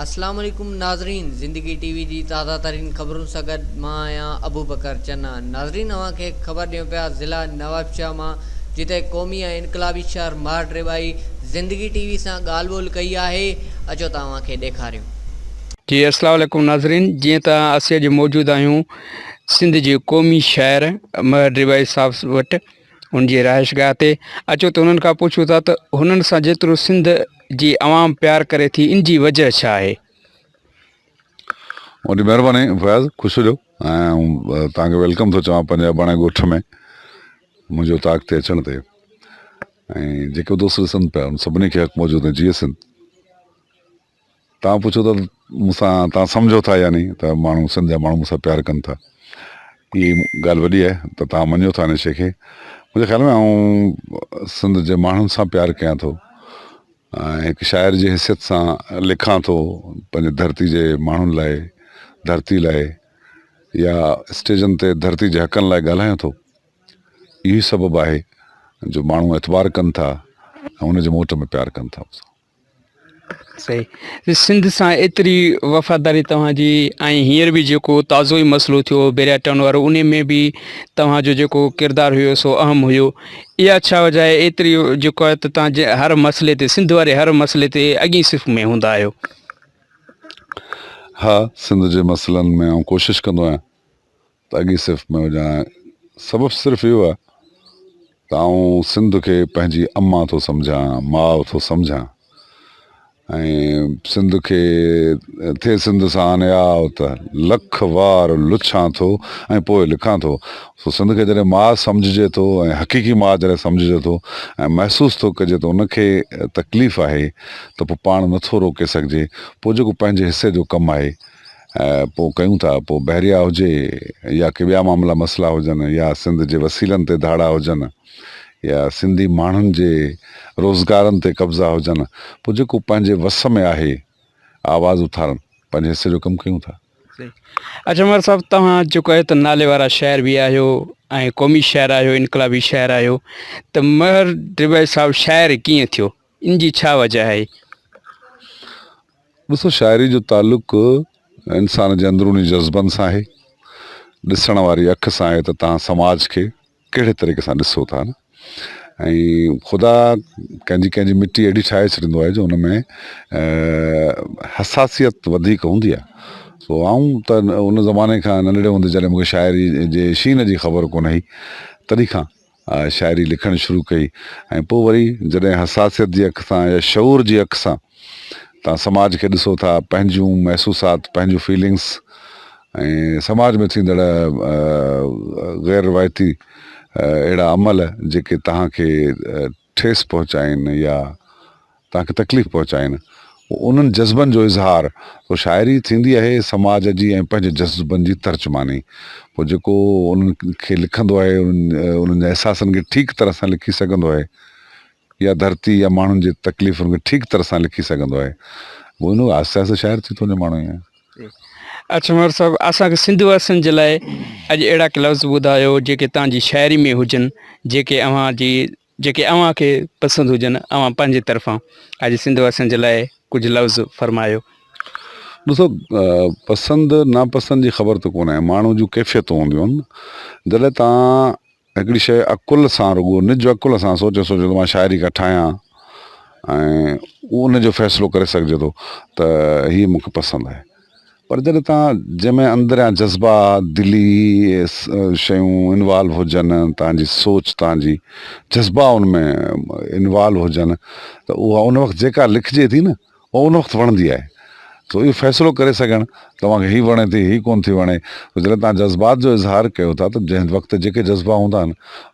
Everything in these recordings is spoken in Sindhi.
اسلام عليڪم ناظرين زندگي ٽي وي جي تازه ترين خبرن سان گڏ مان آهيان ابوبڪر چنا ناظرين اوهان کي خبر ڏيون پيا ضلع نوابشاهه مان جتي قومي ۽ انقلابي شهر ماهر ڊريٻائي زندگي ٽي وي سان ڳالهه ٻولهه ڪئي آهي اچو ته اوهان کي ڏيکاريون. جي اسلام عليڪم ناظرين جيئن ته اسين اڄ موجود آهيون سنڌ جي قومي شهر مهر ڊريٻائي صاحب وٽ. انهن جي رهائش گاهه تي اچو ته انهن کان پڇون ٿا ته هنن سان جيترو سنڌ جي عوام پيار ڪري ٿي ان جي وجهه ڇا آهي؟ وڏي مهرباني فياض خوش هجو ۽ توهان کي ويلڪم ٿو چوان پنهنجي اباڻي ڳوٺ ۾ منهنجي اوطاق تي اچڻ تي ۽ جيڪو دوست ڏسن پيا ان سڀني کي حق موجود جيئي سنڌ. توهان پڇو ٿا مون سان توهان سمجهو ٿا يا ني ته ماڻهو سنڌ جا ماڻهو مون سان پيار ڪن ٿا اهي ڳالهه وڏي آهي ته توهان مڃيو ٿا ان شي کي منهنجي خيال ۾ آئون سنڌ جي ماڻهن سان پيار ڪيان ٿو ۽ هڪ شاعر جي حيثيت سان لکان ٿو پنهنجي ڌرتي جي ماڻهن لاء ڌرتي لاء يا اسٽيجن تي ڌرتي جي حقن لاء ڳالهايان ٿو اهو سبب آهي جو ماڻهو اعتبار ڪن ٿا ۽ ان جي موٽ ۾ پيار ڪن ٿا سنڌ سان ايتري وفاداري توهان جي ۽ هينئر به جيڪو تازو ئي مسئلو ٿيو بيرياٽائون وارو ان ۾ به توهان جو جيڪو ڪردار هيو سو اهم هيو اها ڇا وجهه آهي ايتري جيڪو آهي ته توهان جي هر مسئلي تي سنڌ واري هر مسئلي تي اڳين صف ۾ هوندا آهيو ها سنڌ جي مسئلن ۾ آئون ڪوشش ڪندو آهيان ته اڳئين صف ۾ هجان هان سبب صرف اهو آهي ته آئون سنڌ کي پنهنجي امان ٿو سمجهان ماء ٿو سمجهان ۽ سنڌ کي ٿي سنڌ سان هان آء ته لک وار لڇان ٿو ۽ پوء لکان ٿو سو سنڌ کي جڏهن ماء سمجهجي ٿو ۽ حقيقي ماء جڏهن سمجهجي ٿو ۽ محسوس ٿو ڪجي ته ان کي تڪليف آهي ته پوء پاڻ نٿو روڪي سگهجي پوء جيڪو پنهنجي حصي جو ڪم آهي ۽ پوء ڪيون ٿا پوء بحريا هجي يا ڪي ٻيا معاملا مسئلا هجن يا سنڌ جي وسيلن تي ڌاڙا هجن يا سنڌي ماڻهن جي روزگارن تي قبضا هجن پوء جيڪو پنهنجي وس ۾ آهي آواز اٿارڻ پنهنجي حصي جو ڪم ڪيون ٿا. اچ عمر صاحب توهان جيڪو آهي ته نالي وارا شاعر به آهيو ۽ قومي شاعر آهيو انقلابي شاعر آهيو ته مهر ڊيويس صاحب شاعر ڪيئن ٿيو؟ ان جي ڇا وجه آهي؟ ڏسو شاعري جو تعلق انسان جي اندروني جذبن سان آهي، ڏسڻ واري اک سان آهي ته توهان سماج کي ڪهڙي طريقي سان ڏسو ٿا ۽ خدا ڪنهن جي ڪنهن جي مٽي اهڙي ٺاهي ڇڏيندو آهي جو ان ۾ حساسيت وڌيڪ هوندي آهي سو آئون ته ان زماني کان ننڍڙي هوندي جڏهن مون کي شاعري جي شين جي خبر ڪونه هئي تڏهن کان شاعري لکڻ شروع ڪئي ۽ پوء وري جڏهن حساسيت جي اک سان يا شعور جي اک سان تان سماج کي ڏسو ٿا پنهنجون محسوسات پنهنجون فيلنگس ۽ سماج ۾ ٿيندڙ غير روايتي اهڙا عمل جيڪي تهان کي ٺيس پهچائين يا توهان کي تڪليف پهچائين اهو انهن جذبن جو اظهار تو شاعري ٿيندي اهي سماج جي ۽ پنهنجي جذبن جي ترجماني پوء جيڪو انهن کي لکندو اهي انهن جي احساسن کي ٺيڪ طرح سان لکي سگهندو اهي يا ڌرتي يا ماڻهن جي تڪليفن کي ٺيڪ طرح سان لکي سگهندو اهي اهو انهن آهستي آهستي شاعر ٿي ٿو وڃي ماڻهو ائين اچ مور صاحب اسان کي سنڌو واسين جي لاء اڄ اهڙا ڪي لفظ ٻڌايو جيڪي تان جي شاعري ۾ هجن جيڪي اوهان جي جيڪي اوهان کي پسند هجن. اوهان پنهنجي طرفان اڄ سنڌ واسين جي لاء ڪجهه لفظ فرمايو. ڏسو پسند ناپسند جي خبر ته ڪونه آهي ماڻهو جون ڪيفيتون هونديون آهن جڏهن توهان هڪڙي شيء عقل سان رڳو نج عقل سان سوچي سوچي ته مان شاعري ڪا ٺاهيان ۽ ان جو فيصلو ڪري سگهجي ٿو ته هي مون کي پسند آهي. پر جڏهن تان جنهن ۾ اندريان جذبا دلي شيون انوالو هجن تان جي سوچ تان جي جذبا ان ۾ انوالو هجن ته اها ان وقت جيڪا لکجي ٿي نه اها ان وقت وڻندي آهي سو اهو فيصلو ڪري سگهڻ توهان کي هي وڻي ٿي هي ڪون ٿي وڻي جڏهن تان جذبات جو اظهار ڪيو ٿا ته جنهن وقت جيڪي جذبا هوندا آهن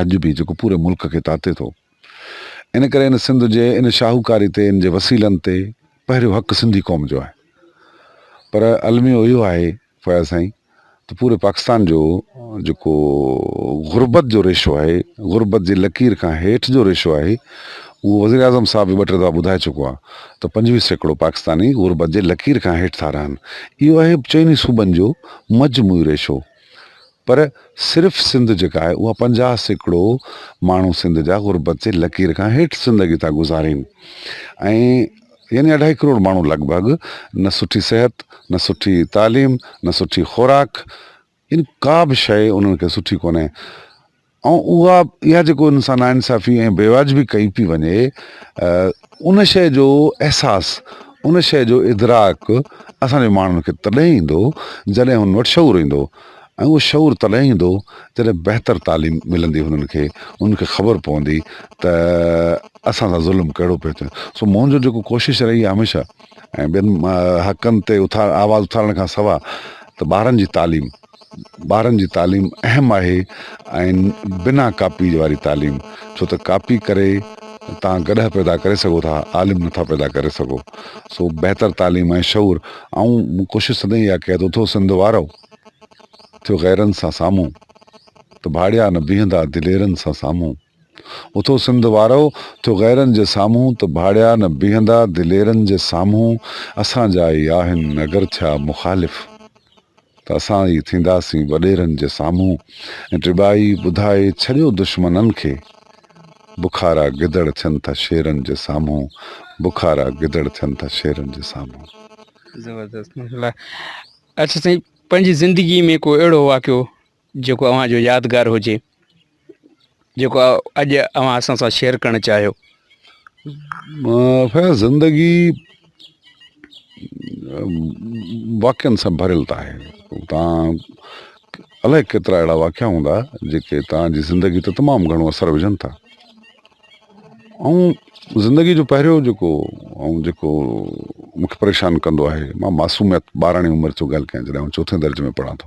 اڄ به جيڪو پوري ملڪ کي تاتي ٿو. ان ڪري هن سنڌ جي ان شاهوڪاري تي ان جي وسيلن تي پهريون حق سنڌي قوم جو آهي. پر الميو اهو آهي فياض سائين ته پوري پاڪستان جو جيڪو غربت جو ريشو آهي غربت جي لڪير کان هيٺ جو ريشو آهي اهو وزير اعظم صاحب به ٻه ٽي دفعا ٻڌائي چڪو آهي ته پنجويهه سيڪڙو پاڪستاني غربت جي لڪير کان هيٺ ٿا رهن اهو آهي چئني صوبن جو مجموعي ريشو پر صرف سنڌ جيڪا آهي اها پنجاهه سيڪڙو ماڻهو سنڌ جا غربت جي لڪير کان هيٺ زندگي ٿا گذارين ۽ يعني اڍائي ڪروڙ ماڻهو لڳ ڀڳ نه سٺي صحت نه سٺي تعليم نه سٺي خوراڪ يعني ڪا به شيء انهن کي سٺي ڪونهي ۽ اها اها جيڪو ان سان ناانصافي ۽ بيواجبي ڪئي پئي وڃي ان شيء جو احساس ان شيء جو ادراڪ اسان جي ماڻهن کي تڏهن ايندو جڏهن هن وٽ شعور ايندو ۽ اهو شعور تڏهن ايندو جڏهن بهتر تعليم ملندي هنن کي هنن کي خبر پوندي ته اسان سان ظلم ڪهڙو پيو ٿي سو منهنجو جيڪو ڪوشش رهي آهي هميشه ۽ ٻين حقن تي اٿار آواز اٿارڻ کان سواء ته ٻارن جي تعليم ٻارن جي تعليم اهم آهي ۽ بنا ڪاپي واري تعليم ڇو ته ڪاپي ڪري توهان گڏهه پيدا ڪري سگهو ٿا عالم نٿا پيدا ڪري سگهو سو بهتر تعليم ۽ شعور آئون مون ڪوشش سدائين اها ڪيا ٿو ٿو سنڌ وارو ٿيو غيرن سان سامهون ته ڀاڙيا نه بيهندا دليرن سان سامهون اٿو سنڌ وارؤ، ٿيو غيرن جي سامهون ته ڀاڙيا نه بيهندا دليرن جي سامهون، اسان جا ئي آهن اگر ٿيا مخالف ته اسان ئي ٿينداسين وڏيرن جي سامهون ۽ ٽٻائي ٻڌائي ڇڏيو دشمنن کي بکارا گدڙ ٿين ٿا شيرن جي سامهون بکارا گدڙ ٿين ٿا شيرن جي سامهون. زبردست ماشاء الله اچ سائين پنهنجي زندگي ۾ ڪو اهڙو واقعو جيڪو اوهان جو يادگار هجي جيڪو اڄ اوهان اسان سان شيئر ڪرڻ چاهيو فيض زندگي واقعن سان ڀريل ته آهي تان الائي ڪيترا اهڙا واقعا هوندا جيڪي تان جي زندگي ته تمام گهڻو اثر وجهن ٿا ۽ زندگي جو پهريو جيڪو ۽ جيڪو مونکي پريشان ڪندو آهي مان معصوميت ٻاراڻي عمر جو ڳالهه ڪيان جڏهن چوٿين درجي ۾ پڙهان ٿو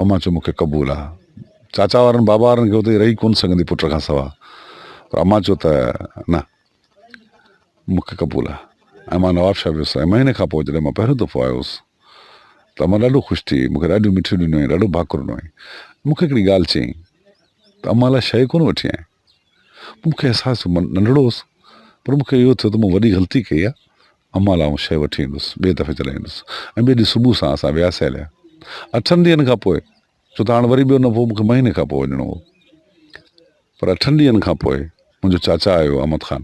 امان چيو، مون کي قبول آ. چاچا وارن بابا وارن کي اتي رهي ڪونه سگهندي پٽ کان سوا پر امان چيو ته نه مون کي قبول آ ۽ مان نوابشاهه ويس ۽ مهيني کان پوء جڏهن مان پهريون دفعو آيو هوس ته امان ڏاڍو خوش ٿي مون کي ڏاڍيون مٺيون ڏنيون ۽ ڏاڍو ڀاڪر ڏنو ۽ مون کي هڪڙي ڳالهه چيائين ته امان لاء شيء ڪونه وٺي آئين؟ مون کي احساس ٿيو مان ننڍڙو هوس پر مون کي اهو ٿيو ته مون وڏي غلطي ڪئي آهي امان لاء اهو شيء وٺي ايندس ٻئي دفعي چرائي ايندس ۽ ٻئي ڏينهن صبح سان اسان وياسي هليا اٺن ڏينهن کان پوء ڇو ته هاڻ وري ٻيو نه پوء مون کي مهيني کان پوء وڃڻو هو پر اٺن ڏينهن کان پوء منهنجو چاچا آيو احمد خان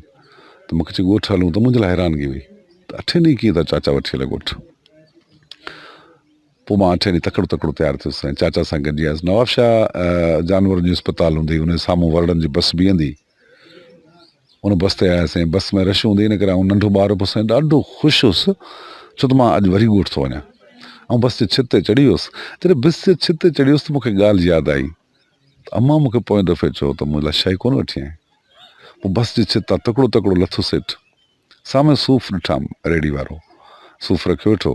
ته مون کي چي ڳوٺ هلون ته منهنجي لاء حيرانگي هئي ته اٺين ڏينهن ڪيئن ٿا چاچا وٺي هلي ڳوٺ پوء مان اٺين ڏينهن تڪڙو تڪڙو تيار ٿيس ۽ چاچا سان گڏجي آيس. نوابشاهه جانورن جو اسپتال هوندي، ان جي سامهون ورڙن جي بس بيهندي ان بس تي آياسين. بس ۾ رش هوندي ان ڪري آئون ننڍو ٻار به هوس ۽ ڏاڍو خوش هوس ڇو ته مان اڄ وري ڳوٺ ٿو وڃان. آئون بس جي ڇت تي چڙهي ويس. جڏهن بس جي ڇت تي چڙهي ويس ته مون کي ڳالهه ياد آئي ته امان مون کي پوئين دفعي چيو هو ته منهنجي لاء شاهي ڪونه وٺي آئين. پوء بس جي ڇت تان تڪڙو تڪڙو لٿس هيٺ. سامهون صوف ڏٺام. ريڙهي وارو صوف رکيو ويٺو.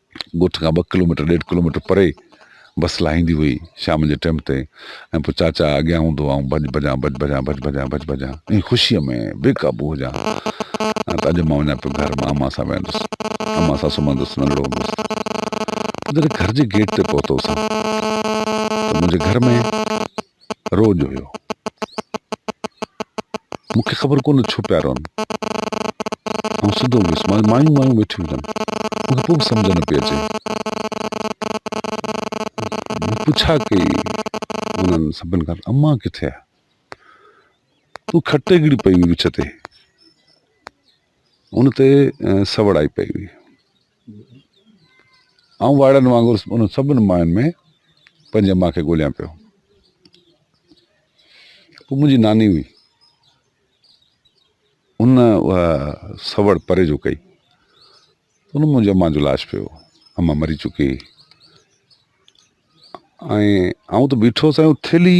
ڳوٺ کان ٻه ڪلوميٽر ڏيڍ ڪلوميٽر پري بس لاهيندي هئي شام جي ٽيم تي ۽ پوء چاچا اڳيان هوندو هو آئون ڀڄ ڀڄان ڀڄ ڀڄان ڀڄ ڀڄان ڀڄ ڀڄان ۽ خوشيء ۾ بي قابو هجان ته اڄ مان وڃان پيو گهر مان امان سان ويهندس امان سان سمهندس ننڍڙو هوندس جڏهن گهر جي گيٽ تي پهتو سان ته منهنجي گهر ۾ روڄ هيو. مون کي خبر ڪونه ڇو پيا روئن. آئون سڌو ويس. مانجون مايون وايون ويٺيون هجن. مون کي پوء به سمجهه نه پئي اچي. مون پڇا ڪئي انهن سڀن کان ته امان ڪٿي آهي؟ تون کٽي گڙي پئي هئي وچ تي. ان تي سوڙائي پئي هئي. آئون وارن وانگر انهن سڀني ماين ۾ پنهنجي ماء کي ڳوليان پيو. هو منهنجي ناني هئي. ان اها سوڙ پري جو ڪئي. ان منهنجي امان جو لاش پيو. امان مري چڪي هئي. ۽ آئون ته بيٺو هوس ۽ ٿيلهي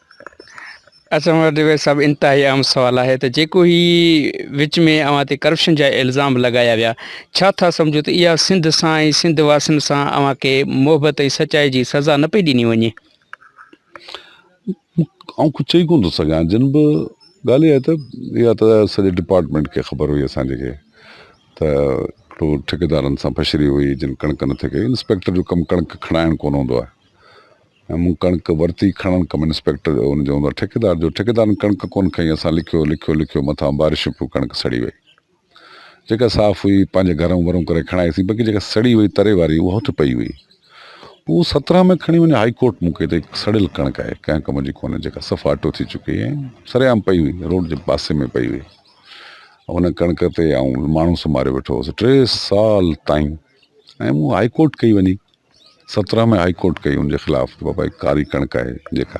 اسان وٽ اهي سڀ انتهائي اهم سوال آهي ته جيڪو هي وچ ۾ اوهان تي ڪرپشن جا الزام لڳايا ويا ڇا ٿا سمجهو ته اها سنڌ سان ۽ سنڌ واسين سان اوهان کي محبت ۽ سچائي جي سزا نه پئي ڏني وڃي آئون ڪجهه چئي ڪون ٿو سگهان جن به ڳالهه اها ته اها ته سڄي ڊپارٽمنٽ کي خبر هئي اسان جي کي ته ٽو ٺيڪيدارن سان پشري هئي جن ڪڻڪ نٿي ڪئي انسپيڪٽر جو ڪم ڪڻڪ کڻائڻ ڪون هوندو آهي مون ڪڻڪ ورتي، کڻڻ ڪم انسپيڪٽر جو ان جو هوندو آهي ٺيڪيدار جو، ٺيڪيدارن ڪڻڪ ڪونه کنئي، اسان لکيو لکيو لکيو مٿان بارشون پيون ڪڻڪ سڙي وئي، جيڪا صاف هئي پنهنجي گهرون ورون ڪري کڻائي سين باقي جيڪا سڙي وئي تري واري اها هت پئي هئي، هو سترهن ۾ کڻي وڃي هائي ڪورٽ مون کي ته سڙيل ڪڻڪ آهي ڪنهن ڪم جي ڪونه جيڪا صفا اٽو ٿي چڪي ۽ سرعام پئي هئي روڊ جي پاسي ۾ پئي هئي ان ڪڻڪ تي آئون ماڻهو سماريو ويٺو هوس ٽي سال تائين ۽ مون هائي ڪورٽ ڪئي وڃي سترهن ۾ هائي ڪورٽ ڪئي ان جي خلاف ته بابا هي ڪاري ڪڻڪ آهي جيڪا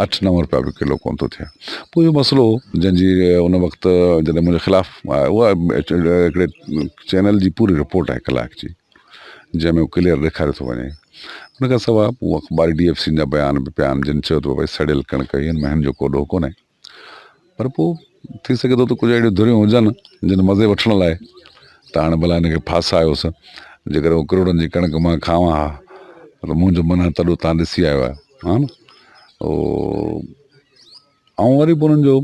اٺ نو روپيا به ڪلو ڪون ٿو ٿئي پوء اهو مسئلو جنهن جي ان وقت جڏهن منهنجي خلاف اها هڪڙي چينل جي پوري رپورٽ آهي ڪلاڪ جي جنهن ۾ ڪليئر ڏيکاريو ٿو وڃي ان کان سواء اخباري ڊي ايف سين جا بيان به پيا آهن جن چيو ته بابا هي سڙيل ڪڻڪ هي هن ۾ هن جو ڪو ڏوهه ڪونهي پر پوء ٿي سگهي ٿو ته ڪجهه اهڙيون ڌريون هجن جن مزي وٺڻ لاء ته هاڻي ڀلا هن کي ڦاسايوس جيڪڏهن هو ڪروڙن جي ڪڻڪ مان کاوان ها ته منهنجو من هاڻي تڏو تان ڏسي آيو آهي ها نه او آئون وري به انهن جو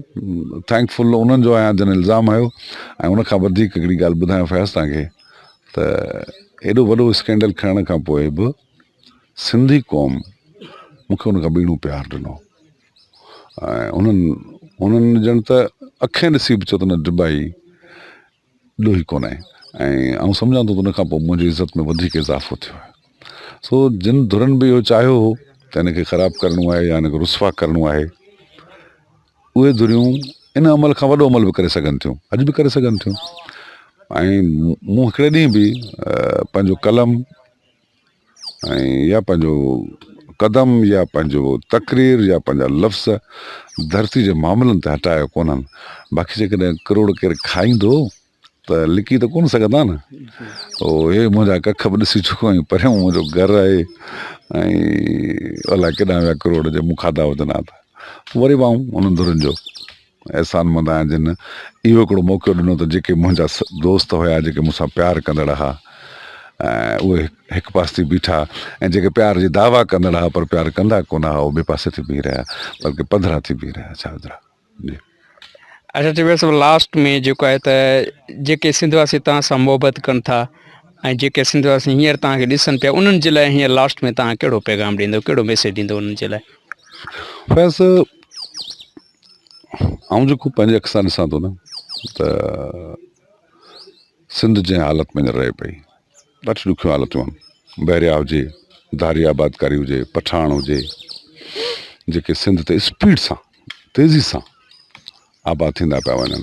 ٿينڪ فل انهن جو آهيان جن الزام هنيو ۽ ان کان وڌيڪ هڪڙي ڳالهه ٻڌايان فياض تان کي ته ايڏو وڏو اسڪينڊل کڻڻ کان پوء به سنڌي قوم مون کي ان کان ٻيڻو پيار ڏنو انهن انهن ڄڻ ته اکين ڏسي به چيو ته نه ڊبائي ڏوهي ڪونه ۽ آئون سمجهان ٿو ته ان کان پوء منهنجي عزت ۾ وڌيڪ اضافو ٿيو آهي سو جن ڌرن به اهو چاهيو هو ته ان کي خراب ڪرڻو آهي يا ان کي رسوا ڪرڻو آهي اهي ڌريون ان عمل کان وڏو عمل به ڪري سگهن ٿيون اڄ به ڪري سگهن ٿيون ۽ مون هڪڙي ڏينهن به پنهنجو قلم ۽ يا پنهنجو قدم يا پنهنجو تقرير يا پنهنجا لفظ ڌرتي جي معاملن تي هٽايو ڪونهن باقي جيڪڏهن ڪروڙ ڪير کائيندو ته لڪي ته ڪون سگهندا نه او هي منهنجا ڪک به ڏسي چڪو آهي پريون منهنجو گهر آهي ۽ الاء ڪيڏانهن ويا ڪروڙ جي مون کاڌا هجن ها ته وري وائون انهن ڌرين جو احسان مند آهيان جن اهو هڪڙو موقعو ڏنو ته جيڪي منهنجا دوست هيا جيڪي مون سان پيار ڪندڙ ها اهي هڪ پاسي ٿي بيٺا ۽ جيڪي پيار جي دعويٰ ڪندڙ ها پر پيار ڪندا ڪونه ها اهي ٻئي پاسي ٿي بيهي رهيا بلڪه پڌرا ٿي بيهي رهيا ڇا وڌرا جي. اچا چوي سو لاسٽ ۾ جيڪو آهي ته جيڪي سنڌ واسي توهان سان محبت ڪن ٿا ۽ جيڪي سنڌ واسي هينئر توهان کي ڏسن پيا انهن جي لاء هينئر لاسٽ ۾ توهان ڪهڙو پيغام ڏيندو ڪهڙو ميسيج ڏيندو انهن جي لاء فيض آئون جيڪو پنهنجي اک سان ڏسان ٿو نه ته سنڌ جنهن حالت ۾ رهي پئي ڏاڍي ڏکيون حالتون آهن بحريا هجي ڌاري آبادڪاري هجي پٺاڻ هجي جيڪي سنڌ تي اسپيڊ سان تيزي سان آباد ٿيندا پيا وڃن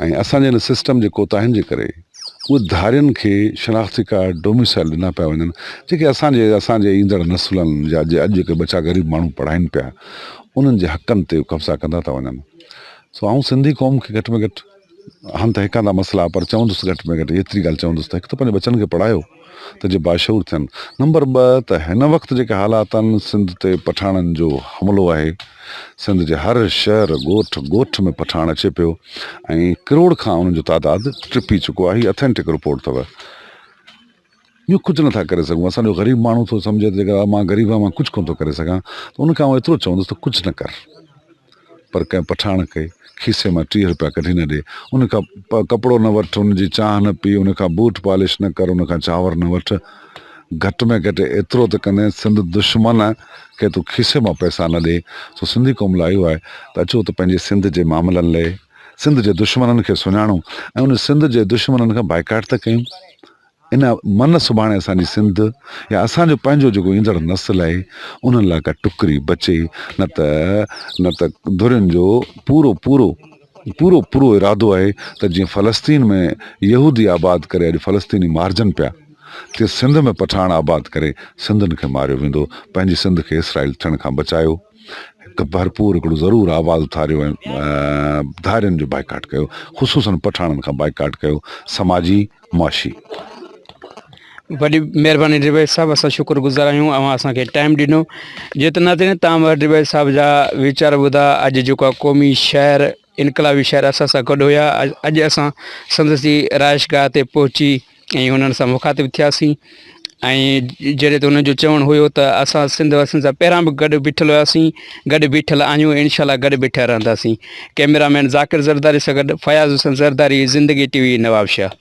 ۽ اسان جي ان سسٽم جي ڪوتاهين جي ڪري اهي ڌارين کي شناختي ڪارڊ ڊوميسائل ڏنا پيا وڃن جيڪي اسان جي اسان جي ايندڙ نسلن جا جي اڄ جيڪي ٻچا غريب ماڻهو پڙهائين پيا انهن جي حقن تي قبضا ڪندا ٿا وڃن سو آئون سنڌي قوم کي گهٽ ۾ گهٽ هن ته هيڪاندا مسئلا پر چوندس گهٽ ۾ گهٽ ايتري ڳالهه چوندس ته هڪ ته پنهنجي ٻچن کي پڙهايو ته جي باشعور ٿين. نمبر ٻه ته هن وقت جيڪي حالات آهن سنڌ تي پٺاڻن جو حملو آهي سنڌ جي هر شهر ڳوٺ ڳوٺ ۾ پٺاڻ اچي پيو ۽ ڪروڙ کان انهن جو تعداد ٽپي چڪو آهي هي اٿينٽڪ رپورٽ اٿو ٻيو ڪجهه نه ٿا ڪري سگهون اسان جو غريب ماڻهو ٿو سمجهي ته جيڪر مان غريب آهيان مان ڪجهه ڪونه ٿو ڪري سگهان ته ان کان آئون ايترو چوندس ته ڪجهه نه ڪر. پر ڪنهن پٺاڻ کي کيسي مان ٽيهه روپيا ڪڍي نه ڏي، ان کان ڪپڙو نه وٺ، ان جي چانهه نه پي، ان کان بوٽ پالش نه ڪر، ان کان چانور نه وٺ، گهٽ ۾ گهٽ ايترو ته ڪندين سنڌ دشمن کي تون کيسي مان پئسا نه ڏي. سو سنڌي قوم لاء اهو آهي ته اچو ته پنهنجي سنڌ جي معاملن لئي سنڌ جي دشمنن کي سڃاڻون ۽ ان سنڌ جي دشمنن کان بائيڪاٽ ته ڪيون. ان من سڀاڻي اسان جي سنڌ يا اسان جو پنهنجو جيڪو ايندڙ نسل آهي انهن لاء ڪا ٽڪري بچي نه ته نه ته ڌرين جو پورو پورو پورو پورو ارادو آهي ته جيئن فلسطين ۾ يهودي آباد ڪري اڄ فلسطيني مارجن پيا تي سنڌ ۾ پٺاڻ آباد ڪري سنڌين کي ماريو ويندو پنهنجي سنڌ کي اسرائيل ٿيڻ کان بچايو هڪ ڀرپور هڪڙو ضرور آواز اٿاريو ۽ ڌارين جو بائيڪاٽ ڪيو خصوصن پٺاڻن کان بائيڪاٽ ڪيو سماجي معاشي وڏي مهرباني ڊبي صاحب اسان شڪر گذار آهيون اوهان اسان کي ٽائم ڏنو جيتن ناظرين تمام ڊبي صاحب جا ويچار ٻڌا اڄ جيڪو قومي شهر انقلابي شهر اسان سان گڏ هيا اڄ اسان سندس جي رهائش گاهه تي پهچي ۽ انهن سان مخاطب ٿياسين ۽ جڏهن ته انهن جو چوڻ هيو ته اسان سنڌ واسين سان پهريان به گڏ بيٺل هياسين گڏ بيٺل آهيون انشاء الله گڏ بيٺل رهنداسين ڪئميرا مين ذاڪر زرداري سان گڏ فياض حسين زرداري زندگي ٽي وي نوابشاهه